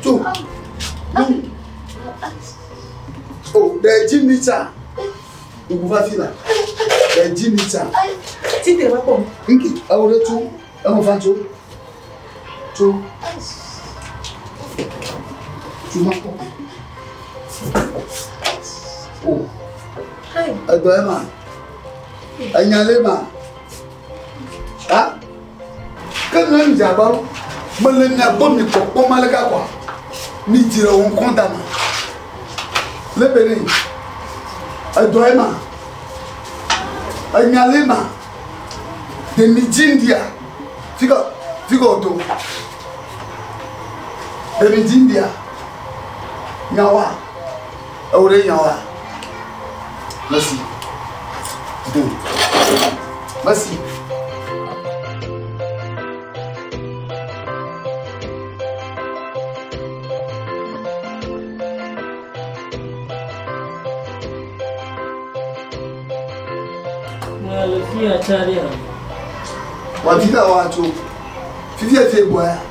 Tso. O, ɖe dzi mi tsa. Ŋku va fi la. Ɖe dzi mi tsa. Ti te va kpɔ. Nki, ewo ɖe tso. Ewo va tso. Tso. Tso ma kpɔ. O. Edɔ ema. Enyalema. ha ke ne mi dzagba wo mele mia gbɔ mi kpɔkpɔ ma le ka kɔ mi dzi le wo ŋkɔ da me le be ne edɔ ye ma enya le ma de mi dzi ndia fi ka fi ka o to de mi dzi ndia nyawa. Ewo ɖe nya wa. Mesi. Do. Mesi. Wati da wa tso. Fifi e te bɔ ya.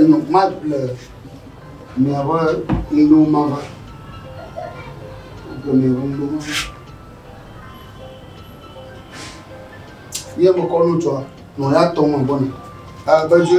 Enɔ kuma le miaƒe nuɖo ma va. Le miaƒe nuɖo ma va. Ye mekɔ nu tsɔa, nɔ ya tɔ me bɔna. Ah, bɛdze.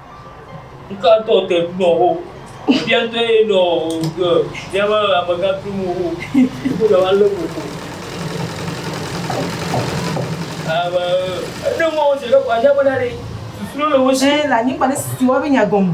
Ŋka ŋutɔ te ŋu nɔ wo. Efia ŋutɔ ye nɔ ke míaƒe amegã tum wo. Wo le wa le koko. Ame ne mɔ wo se ɖe kɔa nya bena ɖe susu le wo si. Le anyigba ne susu wa be nya gɔme.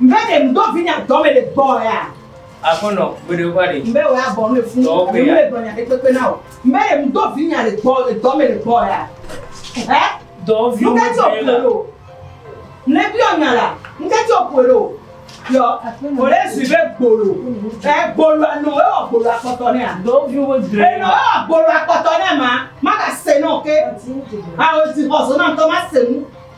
Mbe ɖe ŋdɔ vinye adɔ me le gbɔ ya. Aƒenɔ, gbeɖe ƒa ɖe. Mbe wɔ ya bɔ nu efu. Dɔ pe ya. Mbe dɔ nya ɖe kpekpe na o. Mbe ɖe ŋdɔ vinye le gbɔ le dɔ me le gbɔ ya. Ɛ? Dɔ vi. Ŋkɛ ti ɔpue le o. Ne bi ɔnya la, ŋkɛ ti ɔpue le o. Yɔ, o le zui be gbolo. Ɛ gbolo anɔ e wɔ gbolo akpɔtɔ ne a. Dɔ vi wo dre. Enɔ e wɔ gbolo akpɔtɔ ne ma, ma ga se nɔ ke. A o si xɔ zona ŋtɔ ma se nu.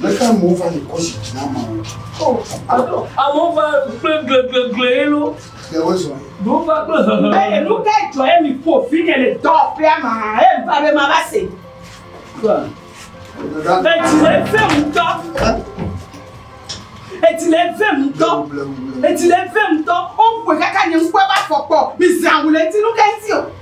Leke amewo va le kɔ zidzi na amewo. Oh, alo amewo va kple gleglegle ye lo. Ɖe wozɔ ye. Ɖewo va kple hehe. Eye nu ka dzɔ ye mi ƒo fi ne le dɔ ƒea ma ye va be ma va se. Etsi le vem ŋutɔ. Etsi le vem ŋutɔ. Etsi le vem ŋutɔ. Woƒoe kaka nye ŋkɔe va fɔkpɔ. Mi zã wule ŋuti nu ka ŋuti o.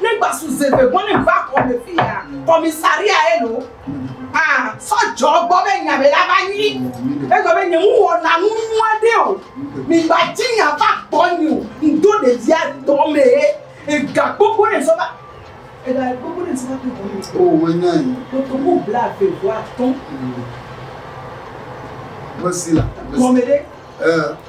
Ne gbasu zeve bɔnem va kɔme fia kɔmisaria eno a sɔ jɔ gbɔ be nya me la va nyi. Egbe be nye ŋu wɔna nu nua ɖe o. Mi gba dzi nya va gbɔ nyi o. Ŋdo ɖevia dɔ me ye ega gbogbo ɖem sɔ va. Ega gbogbo ɖem sɔ va to home. O me nya yi. Kotoku bla ve vo atɔ. Mesi la. Gɔme ɖe. Eh.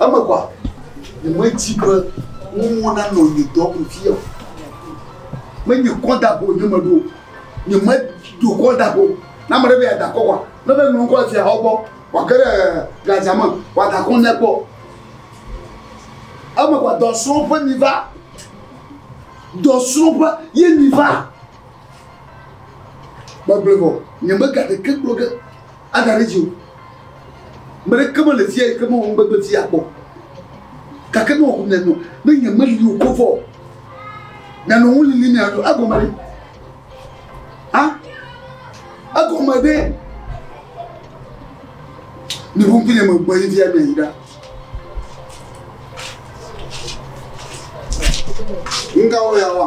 Emegbe nyemedi be nuwo nanɔ nye dɔ me vie o. Menye kɔdago wònye meɖo o. Nyemedo kɔdago. Ne ame ɖe be yeada akɔ wa, ne be ŋlɔ ŋkɔ le fiahawo gbɔ, wòage ɖe gladzia me, wòada akɔ nɛ kpɔ. Emegbe dɔsrɔ̃ƒe mi va. Dɔsrɔ̃ƒe ye mi va. Megblɔe vɔ, nyemega ɖeke gblɔ ge. Ada ɖe dzi o. Me ɖeke mele fia yi ke mewɔ nugbegble fia kpɔ. Gake ne wòaku mianɔ, ne nyemeli o ko vɔ, mianɔ ŋu lilim miaɖo egɔme ɖe. A? Egɔme ɖe. Mi ŋu ŋkunye me gbɔ yi via miayi ɖa. Nga wo ya wa.